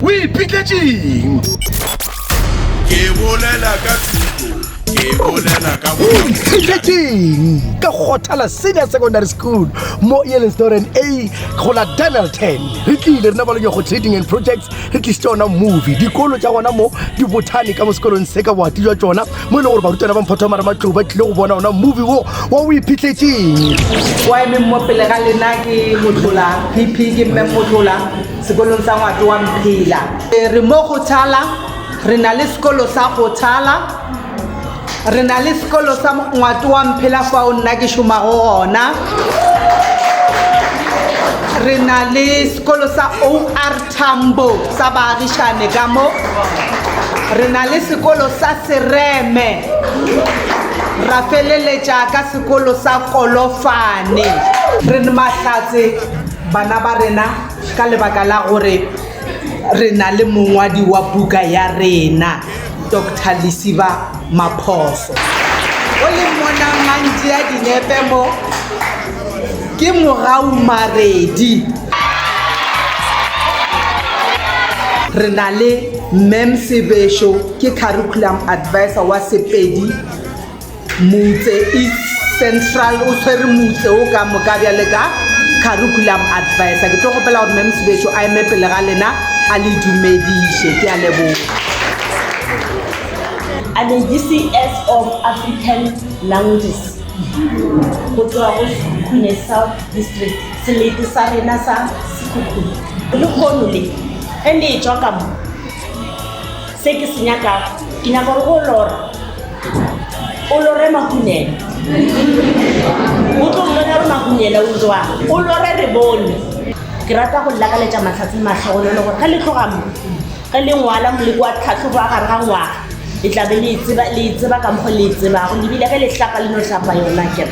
O ipitletšeng? Ke bolela ka thuto, ke bolela ka O ipitletšeng? Ka Kgothala Senior Secondary School mo Yellowstone A go la Dennilton. Re tlile rena ba le Nyokgo Trading and Projects re tlisitse ona movie. Dikolo tša gona mo di bothane ka mo sekolong se ka boati jwa tšona mo e le gore barutwana ba Mphotho wa Marematlou ba tlile go bona ona movie wo wa O ipitletšeng. Wa emeng mo pele ga lena ke Motlola, PP ke Mme Motlola. Sekolong sa Ngwate wa Mphela. Re mo go Thala, re na le sekolo sa go Thala, re na le sekolo sa Ngwate wa Mphela fao nna ke šomago gona. Re na le sekolo sa OR Tambo sa baagišane ka mo. Re na le sekolo sa Sereme, ra feleletša ka sekolo sa Kolofane. Re Mahlatse. Bana ba rena, ka lebaka la gore re na le mongwadi wa buka ya rena, Doctor Lesiba Maphoso, o leng mona a ntšea dinepe mo, ke Morau Maredi. Re na le Mme Msebesho, ke Curriculum Advisor wa Sepedi. Motse East Central o tshwere motse o ka moka bjale ka curriculum advisor. Ke tlo gopela gore Mem Sebetšo a eme pele ga lena a le dumediše. Ke a leboga. I'm in DCS of African Languages go tloga go Sekhukhune South District, selete sa rena sa Sekhukhune. Lehono le ge le etšwa ka mo. Se ke se nyakago, ke nyaka gore go lora. O lore makunela. O tlo mmona re makunela o jwa. O lore re bone. Ke rata go lakaletša mahlatse matlhogonolo gore ge le tloga mo, ge le ngwala moleko wa tlhahlobo wa gare ga ngwaga, le tla be le e tseba, le e tseba ka mokgwa le e tsebago. Lebile ge le hlapa le no hlapa yona akere.